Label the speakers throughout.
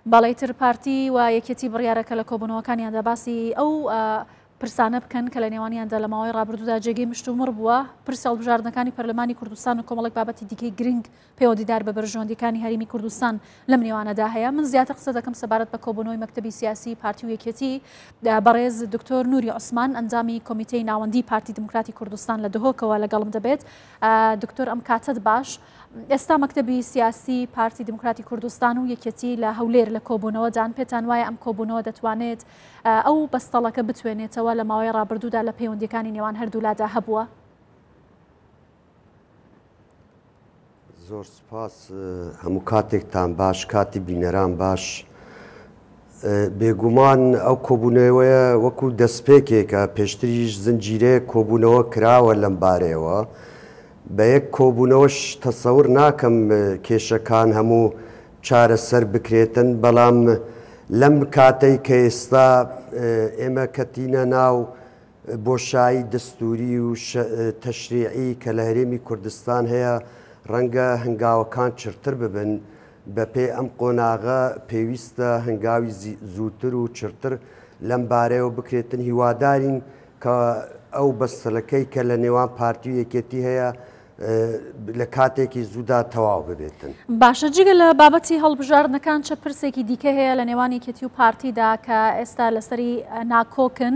Speaker 1: بالای تر پارتی و یەکێتی بڕیارەکە لە کۆبوونەوەکانیاندا باسی ئەو پرسانە بکەن کە لە نێوانیاندا لە ماوەی ڕابردوودا جێگەی مشتومڕ بووە، پرسی هەڵبژاردنەکانی پەرلەمانی کوردستان و کۆمەڵێک بابەتی دیکەی گرنگ پەیوەندیدار بە بەرژەوەندییەکانی هەرێمی کوردستان لەم نێوانەدا هەیە. من زیاتر قسە دەکەم سەبارەت بە کۆبوونەوەی مەکتەبی سیاسیی پارتی و یەکێتی. بەڕێز دکتۆر نوری عوسمان، ئەندامی کۆمیتەی ناوەندیی پارتی دیموکراتی کوردستان لە دهۆکەوە لەگەڵم دەبێت. دکتۆر ئەم کاتەت باش. ئێستا مەکتەبی سیاسی پارتی دیموکراتی کوردستان و یەکێتی لە هەولێر لە کۆبوونەوەدان، پێتان وایە ئەم کۆبوونەوە دەتوانێت ئەو بەستەڵەکە بتوێنێتەوە لە ماوەی ڕابردوودا لە پەیوەندییەکانی نێوان هەردوولادا هەبووە؟
Speaker 2: زۆر سوپاس هەموو کاتێکتان باش کاتی بینەران باش بێگومان ئەو کۆبوونەوەیە وەکو دەستپێکێکە، پێشتریش زنجیرەیەک کۆبوونەوە کراوە لەم بارەیەوە، بە یەک کۆبوونەوەش تەسەور ناکەم کێشەکان هەموو چارەسەر بکرێتن، بەڵام لەم کاتەی کە ئێستا ئێمە کەتینە ناو بۆشایی دەستووری و تەشریعی کە لە هەرێمی کوردستان هەیە، ڕەنگە هەنگاوەکان چڕتر ببن، بەپێی ئەم قۆناغە پێویستە هەنگاوی زووتر و چڕتر لەم بارەیەوە بکرێتن، هیوادارین کە ئەو بەستەڵەکەی کە لە نێوان پارتی و یەکێتی هەیە لە کاتێکی زوودا تەواو ببێتن. باشە جگە لە
Speaker 1: بابەتی هەڵبژاردنەکان چ پرسێکی دیکە هەیە لە نێوان یەکێتی و پارتیدا کە ئێستا لەسەری ناکۆکن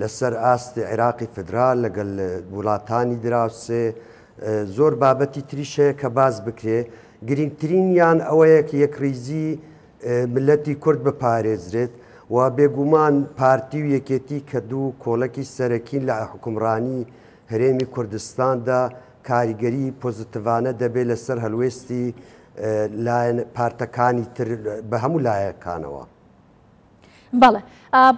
Speaker 2: لەسەر ئاستی عیراقی فیدرال لەگەل وڵاتانی دراوسێ زۆر بابەتی تریش هەیە کە باس بکرێ، گرینگترینیان ئەوەیە کە یەکڕیزی میللەتی کورد بپارێزرێت و بێگوومان پارتی و یەکێتی کە دوو کۆڵەکی سەرەکین لە حوکمڕانی هەرێمی کوردستاندا کاریگەری پۆزتڤانە دەبێ لەسەر هەلوێستی لایەن پارتەکانی تر بە هەموو لایەکانەوە.
Speaker 1: بەڵێ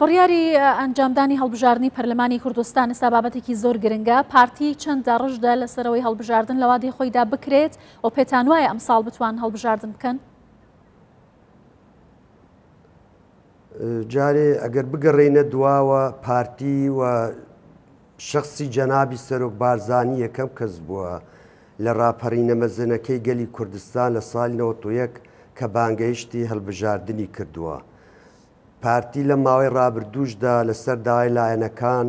Speaker 1: بڕیاری ئەنجامدانی هەڵبژاردننی پەرلەمانی کوردستان ئستا بابەتێکی زۆر گرنگە پارتی چەند داڕژدا لەسەرەوەی هەڵبژاردن لەوادی خۆیدا بکرێت و پێتان وایە ئەم ساڵ بتوان هەڵبژاردن بکەن
Speaker 2: جارێ ئەگەر بگەڕێینە دواوە پارتی و شەخسی جەنابی سەرۆک بارزانی یەکەم کەس بووە لە ڕاپەڕینە مەزنەکەی گەلی کوردستان لە ساڵی نەوەد و یەک کە بانگەیشتی هەڵبژاردنی کردووە. پارتی لە ماوەی ڕابردووشدا لەسەر داوای لایەنەکان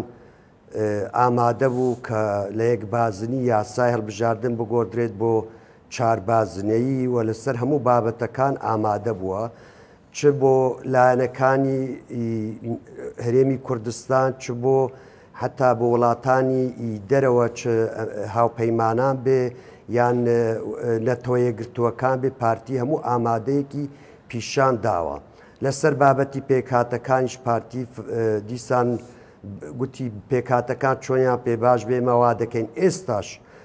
Speaker 2: ئامادە بوو کە لە یەک بازنی یاسای هەڵبژاردن بگۆڕدرێت بۆ چار بازنەیی و لەسەر هەموو بابەتەکان ئامادە بووە. چ بۆ لایەنەکانی هەرێمی کوردستان چ بۆ حتا بۆ وڵاتانی دەرەوە چ هاوپەیمانان بێ یان نەتەوە یەکگرتووەکان بێ پارتی هەموو ئامادەیەکی پیشان داوە لەسەر بابەتی پێکهاتەکانیش پارتی دیسان گوتی پێکاتەکان چۆنیان پێ باش بێمەوا دەکەین ئێستاش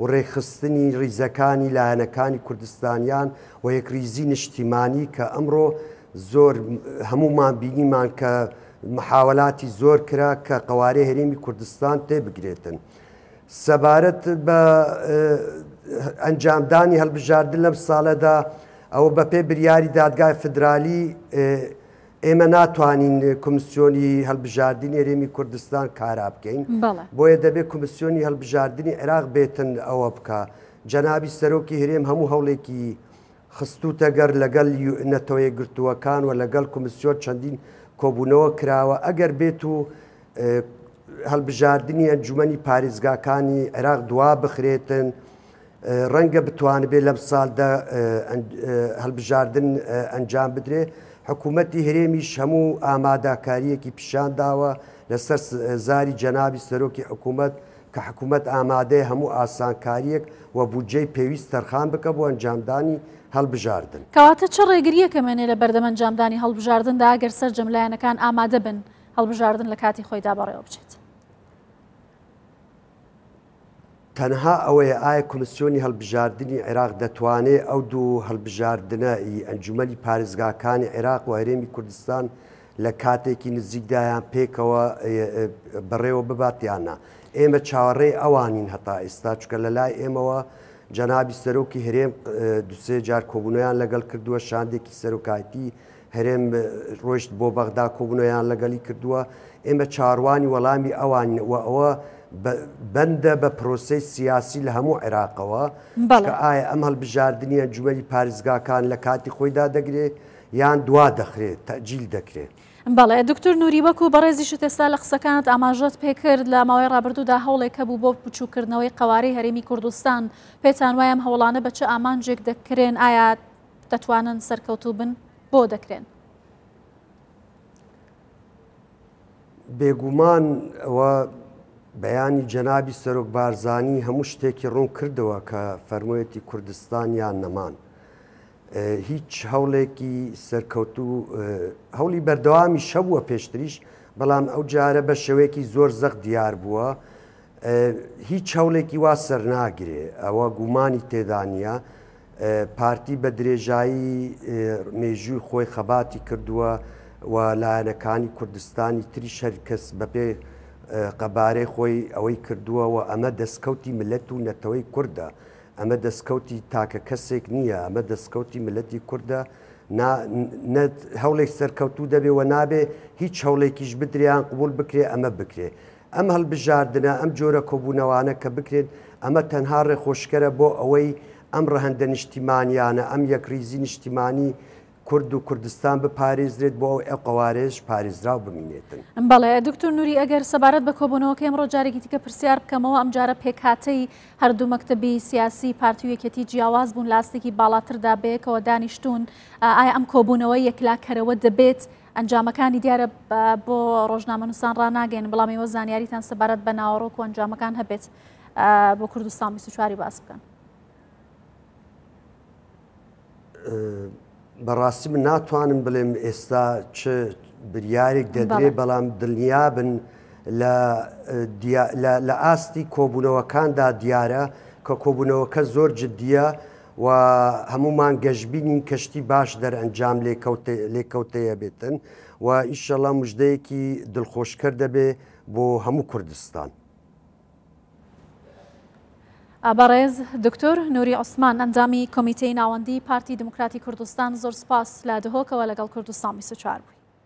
Speaker 2: و ڕێکخستنی ڕیزەکانی لایەنەکانی کوردستانیان و یەکڕیزی نشتیمانی کە ئەمڕۆ زۆر هەموومان بینیمان کە محاوەلاتی زۆر کرا کە قەوارەی هەرێمی کوردستان تێبگرێتن. سەبارەت بە ئەنجامدانی هەڵبژاردن لەم ساڵەدا ئەوە بەپێی بریاری دادگای فدرالی ئێمە ناتوانین کمیسیۆنی هەلبژاردنی هەرێمی کوردستان کارا بکەین بۆیە دەبێت کمیسیۆنی هەلبژاردنی عێراق بێتن ئەوە بکە جەنابی سەرۆکی هەرێم هەموو هەوڵێکی خستوتە گەر لەگەل نەتەوەیە گرتووەکان و لەگەل کمیسیۆن چەندین کۆبوونەوە کراوە ئەگەر بێت و هەلبژاردنی ئەنجومی پارێزگاکانی عێراق دوا بخرێتن ڕەنگە بتوانبێت لەم ساڵدا هەڵبژاردن ئەنجام بدرێت، حکوومەتی هەرێمیش هەموو ئاماداکارییەکی پیشان داوە لەسەر زاری جەنابی سەرۆکی حکوومەت کە حکوومەت ئامادەیە هەموو ئاسانکارییەک و بودجەی پێویست تەرخان بکات بۆ ئەنجامدانی هەڵبژاردن. کەواتە چ ڕێگرییەک
Speaker 1: ئەمێنێت لە بەردەم ئەنجامدانی هەڵبژاردندا ئەگەر سەرجەم لایەنەکان ئامادە بن هەڵبژاردن لە کاتی خۆیدا بەڕێوە بچێت؟
Speaker 2: تەنها ئەوەیە ئایا کۆمیسیۆنی هەڵبژاردنی عێراق دەتوانێت ئەو دوو هەڵبژاردنە ی ئەنجومەنی پارێزگاکانی عێراق و هەرێمی کوردستان لە کاتێکی نزیکدا یان پێکەوە بەڕێوە ببات یان نا؟ ئێمە چاوەڕێی ئەوانین هەتا ئێستا، چونکە لە لای ئێمەوە جەنابی سەرۆکی هەرێم دوو سێ جار کۆبوونەوەیان لەگەڵ کردووە، شاندێکی سەرۆکایەتی هەرێم ڕۆیشت بۆ بەغدا کۆبوونەوەیان لەگەڵی کردووە، ئێمە چاروانی وەڵامی ئەوانین و ئەوە بەندە بە پرۆسەی سیاسی لە هەموو عێراقەوە کە ئایا ئەم هەڵبژاردنی ئەنجومەنی پاریزگاکان لە کاتی خۆیدا دەگرێ یان دوا دەخرێ، تەئجیل دەکرێ. بەڵێ دکتور
Speaker 1: نوری وەکو بەڕێزیشت ئێستا لە قسەکانت ئاماژەت پێکرد لە ماوەی ڕابردوودا هەوڵێک هەبوو بۆ بچوکردنەوەی قەوارەی هەرێمی کوردستان، پێتان وایە ئەم هەوڵانە بە چ ئامانجێک دەکرێن، ئایا دەتوانن سەرکەوتوو بن بۆ دەکرێن.
Speaker 2: بێگومان ئەوە بەیانی جەنابی سەرۆک بارزانی هەموو شتێکی ڕوون کردەوە کە فەرموویەتی کوردستان یان نەمان. هیچ هەوڵێکی سەرکەوتو هەوڵی بەردەوامی شەبووە پێشتریش بەڵام ئەو جارە بە شێوەیەکی زۆر زەق دیار بووە هیچ هەوڵێکی وا سەرناگرێ، ئەوە گومانی تێدا نییە. پارتی بە درێژایی مێژووی خۆی خەباتی کردووە و لایەنەکانی کوردستانی تریش هەر کەس بەپێ قەبارەی خۆی ئەوەی کردووە و ئەمە دەستکەوتی ملت و نەتەوەی کوردە، ئەمە دەستکەوتی تاکە کەسێک نییە، ئەمە دەستکەوتی ملتی کوردە، نا نە هەوڵێک سەرکەوتوو دەبێ و نابێ هیچ هەوڵێکیش بدرێ یان قبوڵ بکرێ ئەمە بکرێ. ئەم هەڵبژاردنە، ئەم جۆرە کۆبوونەوانە کە بکرێن، ئەمە تەنها ڕێخۆشکەرە بۆ ئەوەی ئەم ڕەهەندە نیشتیمانیانە، ئەم یەکڕیزی نیشتیمانی کورد و کوردستان بپارێزرێت، بۆ ئەوەی ئەو قەوارەیەش پارێزراو بمینێتن. بەڵێ دکتۆر
Speaker 1: نوری، ئەگەر سەبارەت بە کۆبوونەوەکەی ئەمڕۆ جارێکی دیکە پرسیار بکەمەوە، ئەمجارە پێکهاتەی هەردوو مەکتەبی سیاسی، پارتی و یەکێتی جیاواز بوون، لە ئاستێکی باڵاتردا بەیەکەوە دانیشتوون، ئایا ئەم کۆبوونەوە یەکلاکەرەوە دەبێت، ئەنجامەکانی دیارە بۆ ڕۆژنامەنووسان ڕناگەین بەڵام ئێوە زانیاریتان سەبارەت بە ناوەڕۆک و ئەنجامەکان هەبێت بۆ کوردستان 24واری باس بکەن.
Speaker 2: بەڕاستی من ناتوانم بڵێم ئێستا چ بریارێک دەدرێ بەڵام دڵنیابن لە ئاستی کۆبوونەوەکاندا دیارە کە کۆبوونەوەکە زۆر جددیە و هەموومان گەشبینین کەشتی باش دەرئەنجام لێکەوتەیەبێتن و ئیشەڵا مژدەیەکی دڵخۆشکەر دەبێ بۆ هەموو کوردستان.
Speaker 1: بەڕێز دکتۆر نوری عوسمان ئەندامی کۆمیتەی ناوەندی پارتی دیموکراتی کوردستان زۆر سپاس لە دهۆکەوە لەگەڵ کوردستان بیست و چوار بووی.